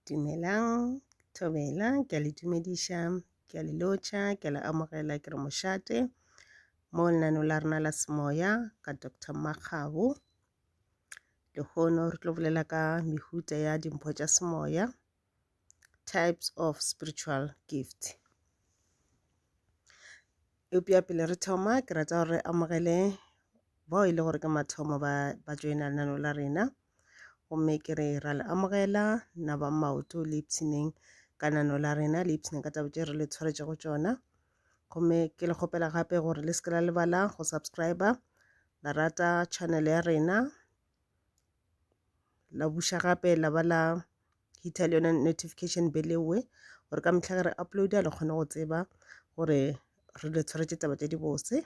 Dumelang, thobela, ke a le dumediša, ke a le lotšha, ke a le amogela, ke re mošate mo lenaneo la rena la semoya ka Dr. Makgabo. Lehono re tlo bolela ka mehuta ya dimpho tša semoya. types of spiritual gift eupša pele re thoma ke rata gore re amogele bao e le gore ke mathomo ba ba joina lenano la rena gomme ke re ra le amogela na ba maoto le ipshineng ka nano la rena le ipshineng ka taba tše re le tshwaretše go tšona gomme ke le kgopela gape gore le se ke la lebala go subscriber la rata channel ya rena la buša gape la ba la hitha le yona notification bell eo gore ka mehla ge re uploada le kgone go tseba gore re le tshwaretše taba tša dibose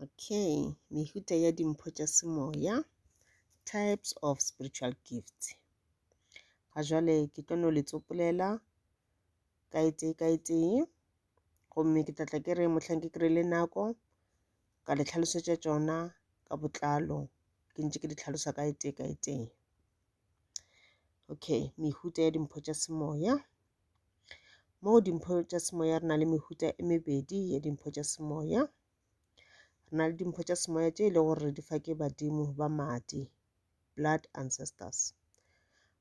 okay mehuta ya dimpho tša semoya types of spiritual gifts ga jale ke tlo no le tsopolela ka e tee ka e tee gomme ke tlatla ke re mohlang ke kry-ile nako ka le hlalosetša tšona ka botlalo ke ntše ke di hlalosa ka e tee ka e tee okay mehuta ya dimpho tša semoya mo dimpho tša semoya re na le mehuta e mebedi ya dimpho tša semoya re na le dimpho tša semoya tše e lego gore di fa ke badimo ba madi blood ancestors.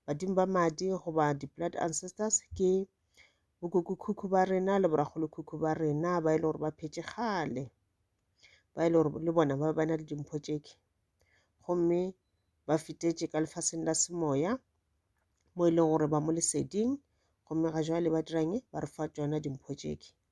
Badimo ba madi goba di-blood ancestors ke bokukukhukhu ba rena le borakgolokhukhu ba rena ba e le gore ba phetše kgale ba e le gore le bona ba ba na le dimpho tšeke gomme ba fetetše ka lefaseng la semoya mo e leng gore ba mo leseding gomme ga jwale ba dirang ba re fa tšona dimpho tšeke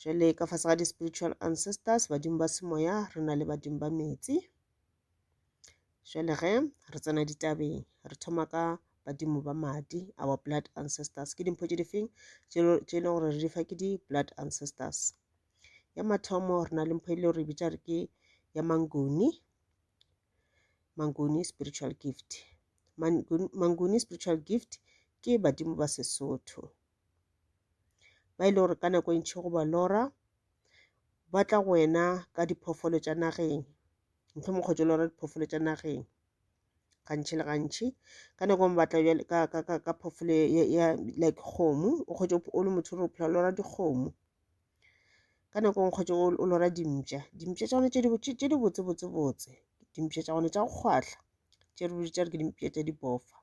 Jwale ka fase ga di-spiritual ancestors, badimo ba semoya, re na le badimo ba metsi. Jwale ge re tsena ditabeng, re thoma ka badimo ba madi, our blood ancestors. Ke dimpho tše di feng tše e leng gore re di fa ke di-blood ancestors? Ya mathomo re na le mpho e le gore e bitša re ke ya mangoni, mangoni spiritual gift. Mangoni spiritual gift ke badimo ba Sesotho. ba e le gore ka nako e ntšhi go ba lora ba tla go wena ka diphoofolo tša nageng mohlomong kgotsa o lora diphoofolo tša nageng gantšhi le gantšhi ka nako ngwe batla bjale ka ka ka ka phoofolo ya ya like kgomo o kgotsa o le motho o re o phela o lora dikgomo ka nako ngwe kgotsa o lora dimpša dimpša tša gone tše di tše tše di botse botse botse dimpša tša gone tša go kgwahla tše re di bitša re ke dimpša tša dipofa.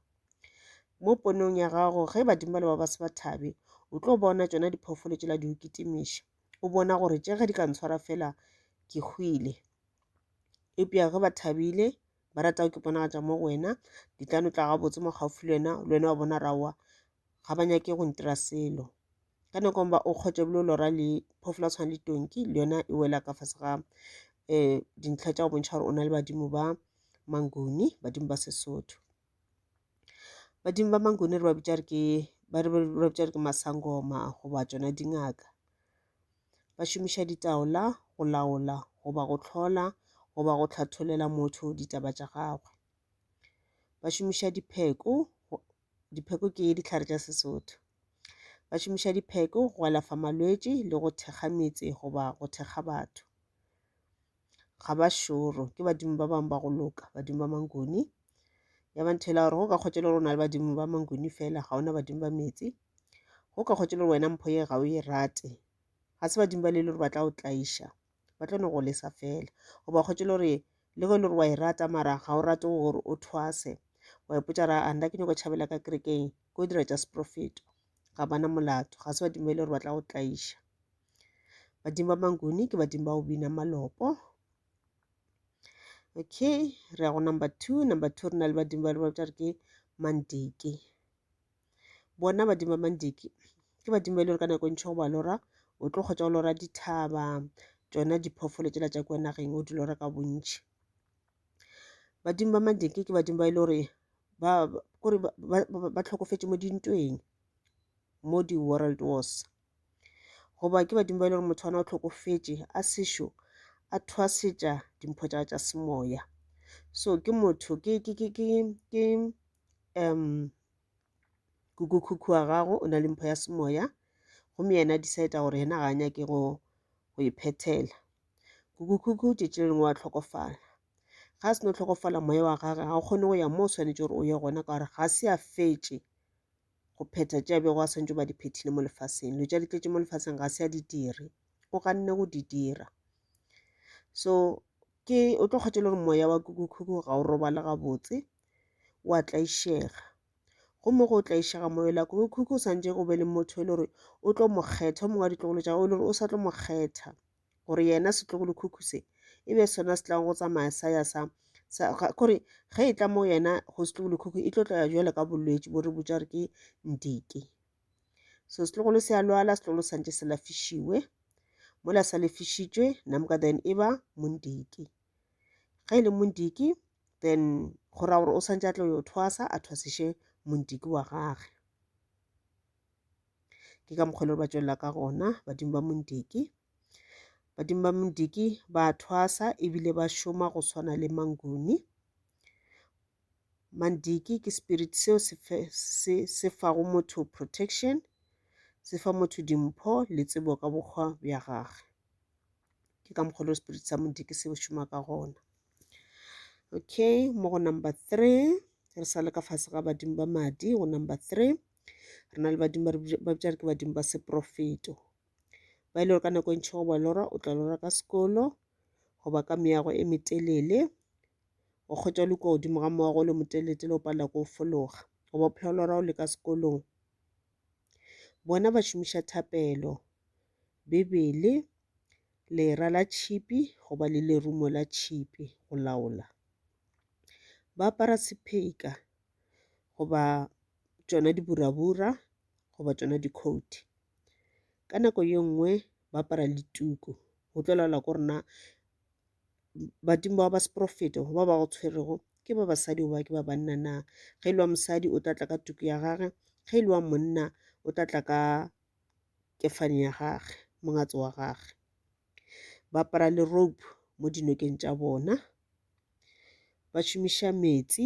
Mo ponong ya gago, ge badimo ba le ba ba se ba thabe, o tlo bona tšona diphoofolo tšela di o kitimiša. O bona gore tše ge di ka ntshwara fela ke hwile. Eupša ge ba thabile, ba rata go kiponagatša mo go wena, di tla no tla gabotse mo gaufi le wena, le wena wa bona raowa ga ba nyake go ntira selo. Ka nako ba o kgotša ebile o lora le phoofolo ya tshwana le tonki le yona e wela ka fase ga um dintlha tša go bontšha gore o na le badimo ba Manguni, badimo ba Sesotho. Badimo ba Mangune re ba bitša re ke ba re ba bitša re ke masangoma goba tšona dingaka. Ba šomiša ditaola go laola goba go tlhola goba go hlatholela motho ditaba tša gagwe. Ba šomiša dipheko, dipheko ke dihlare tša Sesotho. Ba šomiša dipheko go alafa malwetši le go thekga metse goba go thekga batho. ga ba šoro ke badimo ba bangwe ba go loka badimo ba mangoni ya ba nthela gore go ka kgotse le gore o na le badimo ba mangoni fela ga ona badimo ba metsi go ka kgotse le gore wena mpho ye ga o e rate ga se badimo ba le le gore ba tla o tlaiša ba tla no go lesa fela goba kgotse le gore le go e le gore wa e rata mara ga o rate gore o thwase wa ipotsa ra a nna ke nyako tšhabela ka kerekeng ko dira tša seprofeto ga bana molato ga se badimo e le gore ba tla go tlaiša badimo ba manguni ke badimo ba go bina malopo okay re ya go number two number two re na le badimo ba re ba bitša re ke mandiki bona badimo ba mandiki ke badimo ba e le gore ka nako e ntšho go ba lora o tlo kgotsa go lora dithaba tšona diphoofolo tsela tša kua nageng o di lora ka bontšhi badimo ba mandiki ke badimo ba e le gore ba kore ba tlhokofetše mo dintweng mo di-world wars Goba ke badimo ba e le gore motho wa na o tlhokofetše a sešo a thwasetša dimpho tša tša semoya so ke motho ke ke ke ke ke um kukukhukhu wa gago o na le mpho ya semoya gomme yena a decide gore yena ga a nyake go go e phethela kukukhukhu tšetši le lengwe wa tlhokofala ga a se no tlhokofala moya wa gage ga o kgone go ya moo o swanetše gore o ye gona ka gore ga se a fetše go phetha tše a bego a swantšwe ba di phethile mo lefaseng dilo tša di tletše mo lefaseng ga se a di dire o ganne go di dira so ke o tlo kgwetša le gore moya wa kukukhuku ga o robale gabotse o a tlaišega gomme go tlaišega moya la kukukhuku o swantše go be le motho e le gore o tlo mo kgetha o mongwe wa ditlogolo tša gago e le gore o sa tlo mo kgetha gore yena setlogolokhukhu se e be sona se tlago go tsamaya sa ya sa kore ge e tla mo yena go setlogolokhukhu e tlo tlaya jwale ka bolwetši bo re botša re ke ndike so setlogolo se a lwala setlogolo santse se lafišiwe mola sa lefišitšwe namka then e ba mondiki ge e le mondiki then go ra gore o santse a tlo yo thwasa a thwasiše mondiki wa gage ke ka mokgwa le ba tswelela ka gona badimo ba mondiki badimo ba mondiki ba thwasa ebile ba šoma go tshwana le manguni mandiki ke spirit seo se, se, se fago motho protection se fa motho dimpho le tsebo ka bokgwa bja gagwe ke ka mokgwa le spirit sa mondiki se šoma ka gona okay mo go number three re sa le ka fase ga badimo ba madi go number three re na le badimo ba bitša re ke badimo ba seprofeto ba e le gore ka nako e ntšhi goba lora o tla lora ka sekolo goba ka meago e metelele o kgwetša o le kua godimo ga moago o le moteletele o palela ko o fologa goba phela o lora o le ka sekolong bona ba šomiša thapelo bebele lera la tšhipi goba le lerumo la tšhipi go laola ba apara sepheka goba tšona diburabura goba tšona dikhouthi ka nako ye nngwe ba apara le tuku go tlo laola ko rena badimo ba ba seporofeto ba ba go tshwerego ke ba basadi goba ke ba banna na ge e le wa mosadi o tla tla ka tuku ya gage ge e le wa monna o tla tla ka kefane ya gage mongatso wa gage ba apara le rope mo dinokeng tša bona ba šomiša metsi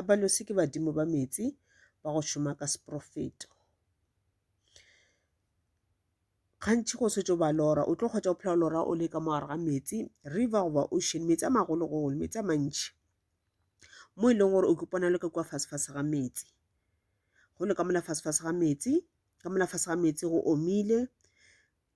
Abalose ke badimo ba meetse ba go šoma ka seporofeto. Gantši go setse ba lora, o tlo kgwetsa o phela o lora o le ka mogare ga meetse, river goba ocean, meetse a magologolo, meetse a mantši. Mo e leng gore o kopana le ka kua fasefase ga meetse. Go le ka mola fasefase ga meetse, ka mola fase ga meetse go omile,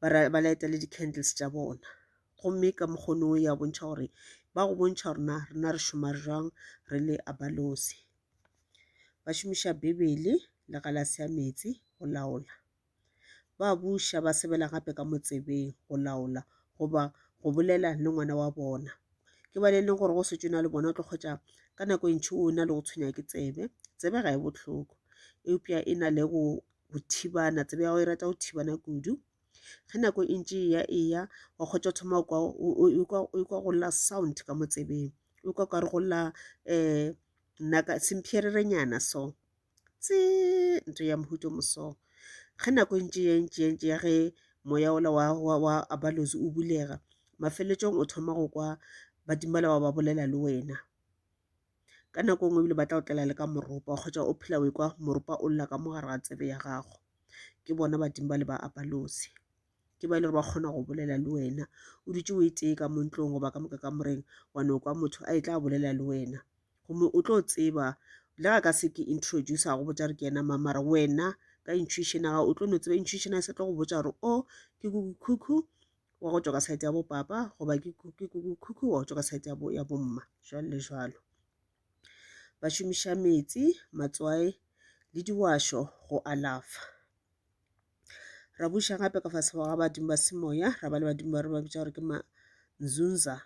ba ba light-a le di-candles tša bona. Gomme ka mokgwa ono ya bontšha gore ba go bontšha gore na rena re šoma jwang re le a ba nosi. Ba šomiša Bibele le galase ya metsi go laola. Ba buša ba sebela gape ka motsebeng go laola goba go bolela le ngwana wa bona. Ke ba le leng gore go setšo na le bona o tlo kgwetša ka nako e ntši o na le go tshwenya ke tsebe. Tsebe ga e bohloko eupša e na le go go thibana tsebe ya gago e rata go thibana kudu ge nako e ntše eya eya wa kgotsa thoma o kwa go lla sound ka mo tsebeng o kwa kare go lla um naka semphererenyana so tse nto ya mohuto moso ge nako e ntše ya ntše ya ntše ya ge moya ola wa wa wa abalozi o bulega mafelelong o thoma go kwa badimela wa ba bolela le wena ka nako nngwe ebile ba tla otlela le ka moropa kgotsa o phela o ekwa moropa o lla ka mo gare ga tsebe ya gago ke bona badimo ba le ba apalosi ke ba e le gore ba kgona go bolela le wena o dutse o e tee ka mo ntlong goba ka moka ka moreng wa no kwa motho a e tla bolela le wena gomme o tlo tseba le ga ka se ke introduce go botsa gore ke ena mamara wena ka intuition ga o tlo no tseba intuition a se tlo go botsa gore o ke kukukhukhu wa go tšwa ka saete ya bopapa goba ke kukukhukhu wa go tšwa ka saete ya bomma jalo le jalo ba šomiša metsi matswae le diwašo go alafa ra buša gape ka fase ga badimo ba semoya ra ba le badimo ba re ba bitša gore ke manzunza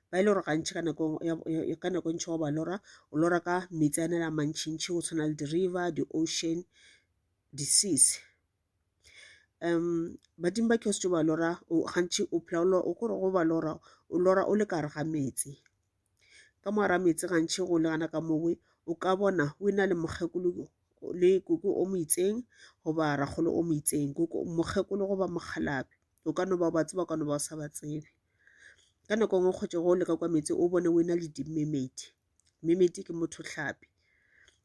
ba e le gore gantši ka nako ka nako ntšhi go ba lora o lora ka metsi a ne la mantšhintšhi go tshwana le di-river di-ocean di-seas Badimo ba kheose tšo ba lora gantšhi o phela o lora, kore go ba lora, o lora o le ka gare ga meetse. Ka mo gare ga meetse gantšhi go le gona ka mo we, o ka bona o ena le mokgekolo le koko o mo itseng goba rakgolo o mo itseng. Mokgekolo goba mokgalabje, o ka no ba o ba tseba, o ka no ba o sa ba tsebe. Ka nako e nngwe go le ka kwa meetse o bone o ena le dimemedi. Mmemeti ke mothohlapi.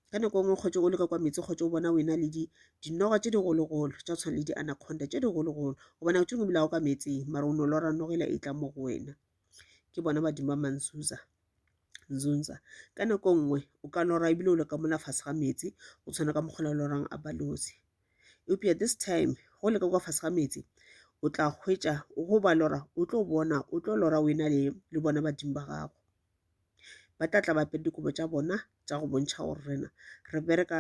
Ka nako e nngwe kgotse o leka kwa meetse kgotse o bona o ena le dinoga tse digologolo tsa tshwana le di-anaconda tse digologolo gobane o tshwenye o bolago ka meetseng mara o ne o lora nogela e tla mo go wena ke bona badimo ba manzuza nzunza ka nako e nngwe o ka lora ebile o le ka mola fase ga meetse o tshwana ka mokgola o lorang a balozi eupša this time go leka kwa fase ga meetse o tla hwetša go ba lora o tlo bona o tlo lora o ena le bona badimo ba gago Ba tla tla ba apere dikobo tša bona tša go bontšha gore rena re bereka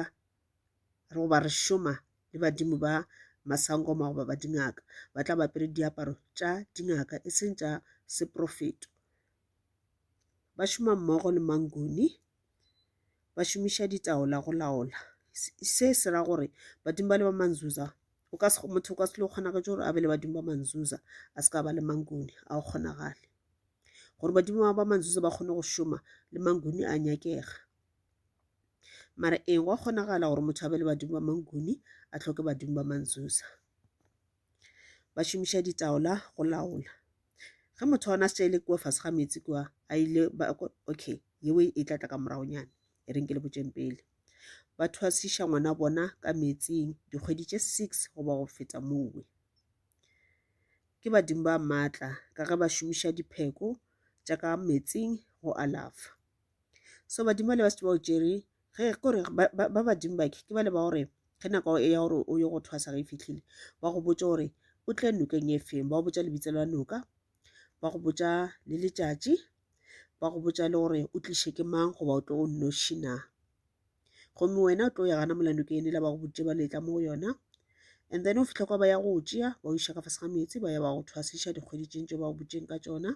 goba re šoma le badimo ba masangoma goba ba dingaka. Ba tla ba apere diaparo tša dingaka e seng tša seprofeto. Ba šoma mmogo le manguni, ba šomiša ditaola go laola. Se se ra gore badimo ba le ba ma-Xhosa o ka se, motho o ka se lo kgonagetse gore a be le badimo ba ma-Xhosa a se ka ba le manguni, a go kgonagale. gore badimo ba ba manzuza ba kgone go šoma le manguni a nyakega mara ee gwa kgonagala gore motho a be le badimo ba manguni a tlhoke badimo ba manzuza ba šomiša ditaola go laola ge motho ona se tšaile kua fase ga metsi kua a ile okay yeo e tla tla ka moragonyana e reng ke le botšeng pele ba thwasiša ngwana bona ka metsing dikgwedi tše six goba go feta mowe Ke badimo ba maatla ka ge ba šomiša dipheko tša ka meetseng go alafa. So badimo ba le ba se ba o tšere ge kore ba badimo ba ke ba le ba gore ge nako ya gore o ye go thwasa ge e fitlhile ba go botša gore o tle nokeng e feng ba go botša lebitso la noka ba go botša le letšatši ba go botša le gore o tliše ke mang goba o tlo o nnoši na. gomme wena o tlo ya gana molando ke ene la ba go boditše ba letla mo go yona and then o fitlha kwa ba ya go tšea ba iša ka fase ga meetse ba ya ba go thwasiša dikgwedi tšeng tse ba go botšeng ka tsona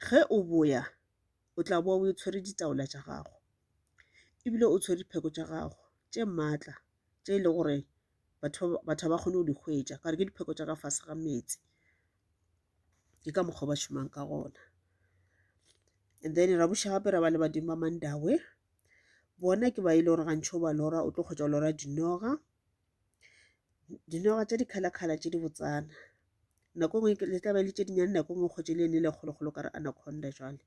ge o boya o tla boa o tshwere ditaola tša gago ebile o tshwere dipheko tša gago tše maatla tše e le gore batho batho ba kgone go di hwetša ka gore ke dipheko tša ka fase ga meetse ke ka mokgwa ba šomang ka gona and then ra buša gape ra ba le badimo ba mandawe bona ke ba e le gore gantšho ba lora o tlo kgotsa lora dinoga dinoga tša dikgalakgala tše di botsana nako e nngwe le tla ba le tše dinyane nako e nngwe kgotse le ene le kgolokgolo ka re anaconda jwale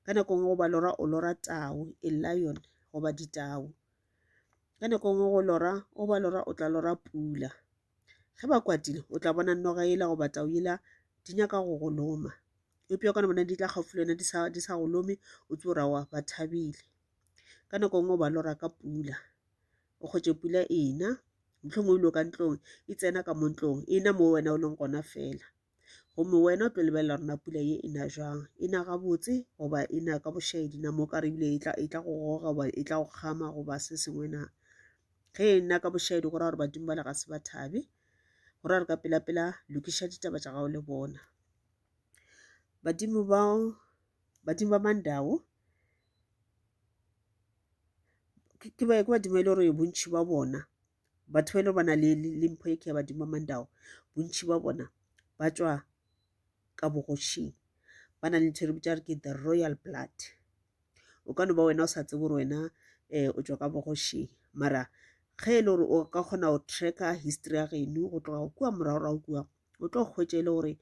ka nako e nngwe goba lora o lora tau e lion goba ditau Ka nako nngwe go lora, o ba lora, o tla lora pula. Ge ba kwatile, o tla bona noga yela goba tau yela di nyaka go go loma. Eupša o ka no bona di tla gaufi le wena di sa, di sa go lome, o tse o rawa ba thabile. Ka nako nngwe o ba lora ka pula, o kgwetše pula ena, mohlomongwe o ile ka ntlong, e tsena ka mo ntlong, ena mo wena o leng gona fela. gomme wena o tlo lebelela rena pula ye e na jang e na gabotse goba e na ka bošaedi na mo ka re ebile e tla e tla go goga goba e tla go kgama goba se sengwe na ge e nna ka bošaedi go ra gore badimo ba le ga se ba thabe go ra re ka pelapela lokiša ditaba tša gago le bona badimo ba badimo ba mandao ke badimo e le gore bontšhi ba bona batho ba e le ba na le le mpho e ke ya badimo ba mandao bontši ba bona ba tswa ka bogošing ba na le ntho e re bitsa re ke the royal blood o ka no ba wena o sa tsebe gore wena um o tswa ka bogošing mara ge e le gore o ka kgona go tracka history ya geno go tloga kua moragorago kua o tlo hwetša e le gore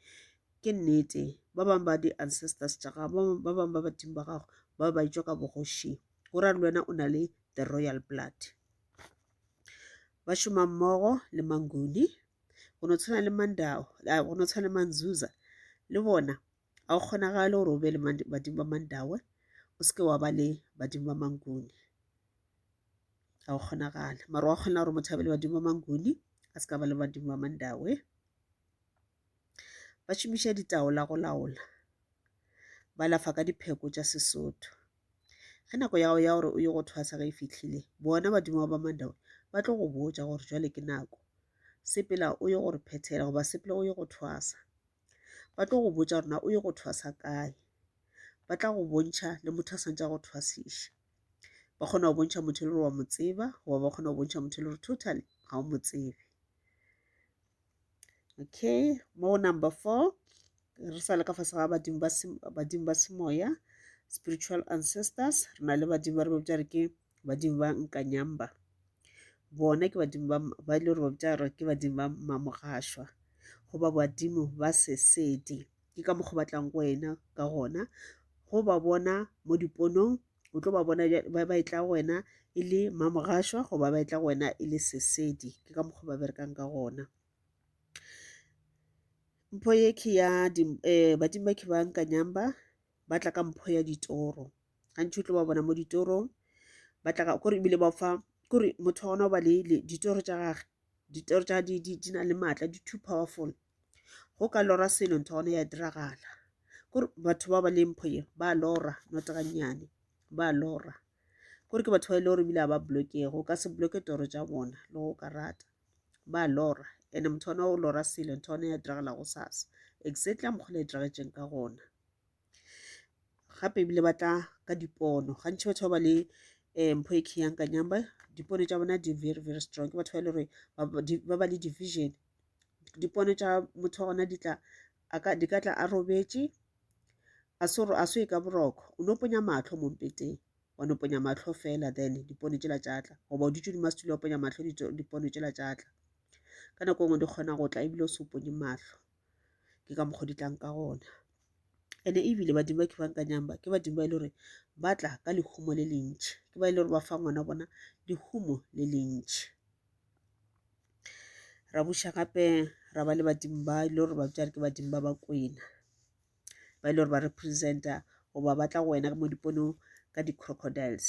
ke nnete ba bangwe ba di-ancestors tša gago ba bangwe ba badimo ba gago ba ba itšwa ka bogošing go ra le wena o na le the royal blood ba šoma mmogo le manguni go no tshwana le mandao go no tshwana le manzuza le bona ga go kgonagale gore o be le badimo ba mandawe o seke wa ba le badimo ba manguni ga go kgonagale mara wa kgona gore motho a be le badimo ba manguni a se ka ba le badimo ba mandawe ba šomiša ditaola go laola ba lafa ka dipheko tša sesotho ge nako ya gago ya gore o ye go thwasa ge e fitlhile bona badimo ba ba mandawe ba tlo go botja gore jwale ke nako sepela o ye gore phethela goba sepela o ye go thwasa ba tlo go botja gorena o ye go thwasa kae ba tla go bontšha le motho a swantša go thwasiša ba kgona go bontšha motho e le gore wa mo tseba goba ba kgona go bontšha motho e le gore totally ga o mo tsebe okay mo number four re sa le ka fase ga badimo ba badimo ba semoya spiritual ancestors re na le badimo ba re bopša re ke badimo ba nkanyamba bona ke badimo ba ba ile gore bopša re ke badimo ba mamogašwa goba badimo ba sesedi ke ka mokgwa batlang go wena ka gona go ba bona mo diponong o tlo ba bona ba ba etla go wena e le mamogašwa goba ba etla go wena e le sesedi ke ka mokgwa ba berekang ka gona mpho ye ke ya um eh, badimo ke ba nkanyang ba ba tla ka mpho ya ditoro gantši o tlo ba bona mo ditorong ba tla kore ebile ba fa kore motho wa gona o ba le ditoro tša gage ditoro tša di, di, di na le maatla di too powerful go ka lora selo ntho gone ya diragala kore batho ba ba le mpho ye ba lora notegannyane ba lora kore ke batho ba e le gore ebile a ba blokego o ka se bloke toro tša bona le go ka rata ba lora and motho ona o lora selo ntho one ya diragala go sasa exactly a mokgola e diragetseng ka gona gape ebile ba tla ka dipono gantši batho ba ba le um mpho e kheyang ka nyamba dipono tša bona di very very strong ke batho ba e le gore ba ba le division dipono tša motho wa gona di tla di ka tla a robetše a se gore a se e ka boroko o no ponya matlho mo mpeteng wa no ponya matlho fela then dipono tšela tša tla goba o dutše dimo setule wa ponya matlho dipono tšela tša tla ka nako nngwe di kgona go tla ebile o se o ponye matlho ke ka mokgwa di tlang ka gona ene ebile badimo ba ke bang ka nyamba ke badimo ba e le gore ba tla ka lehumo le lentšhi ke ba e le gore ba fa ngwana bona lehumo le lentšhi ra buša gape ra ba le badimo ba e le gore ba bjare ke badimo ba ba kwena ba e le gore ba representa goba ba tla go wena mo diponong ka di-crocodiles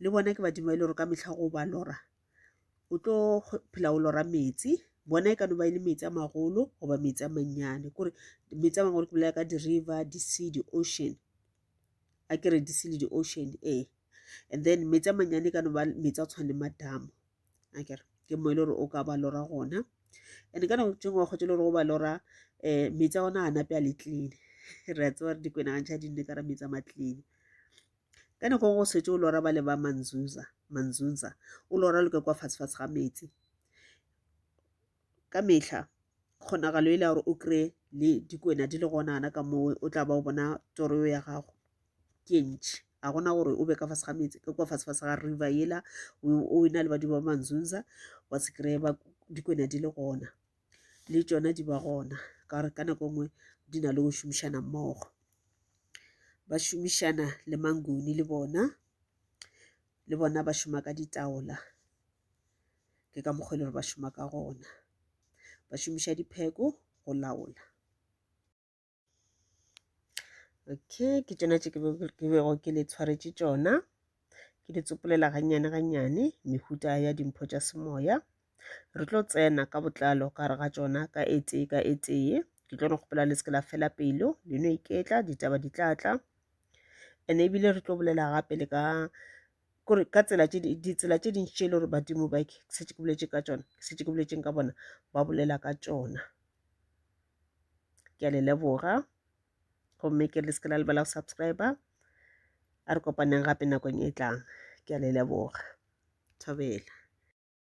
le bona ke badimo ba e le gore ka mehla go ba lora o tlo phela o lora metsi bona e ka no ba e le metsi a magolo goba metsi a mannyane kore metsi a magolo ke bolela ka di-river di-sea di-ocean a kere di-sea le di-ocean ee and then metsi a mannyane e ka no ba metsi a tshwane madamo a kere ke mo e le gore o ka ba lora gona and-e ka nako tse ngwe wa kgotse e le gore go ba lora um metsi a ona a nape a le clean re a tsewa re dikwenagantšha di nne ka ra metsi a ma-clean Ka nako nngwe o setse o lora bale ba Manzunza, Manzunza, o lora loke kwa fatshe-fatshe ga meetse. Ka mehla, kgonagalo e le ya gore o kry le dikwena di le gonana ka moo o tla ba o bona toro eo ya gago ke ntšhi. Ga gona gore o be ka fase ga meetse, ke kwa fatshe-fatshe ga river ela o e na le badimo ba Manzunza, wa se kry-e dikwena di le gona. le tšona di ba gona ka gore ka nako nngwe di na le go šomišana mmogo ba šomišana le manguni le bona le bona ba šoma ka ditaola ke ka mokgwa e le gore ba šoma ka gona ba šomiša dipheko go laola okay ke tšona tše ke bego ke le tshwaretše tšona ke di tsopolela gannyane gannyane mehuta ya dimpho tša semoya re tlo tsena ka botlalo ka re ga tšona ka e tee ka e tee ke tlo no kgopela le se ke la fela pelo le no iketla ditaba di tla tla and ebile re tlo bolela gape le ka kore ka tsela tše ditsela tše dintši tše e le gore badimo ba setse ke boletse ka tšona setse ke boletseng ka bona ba bolela ka tšona ke a le leboga gomme ke le se ke la lebala go subscribe a re kopaneng gape nakong e tlang ke a le leboga thobela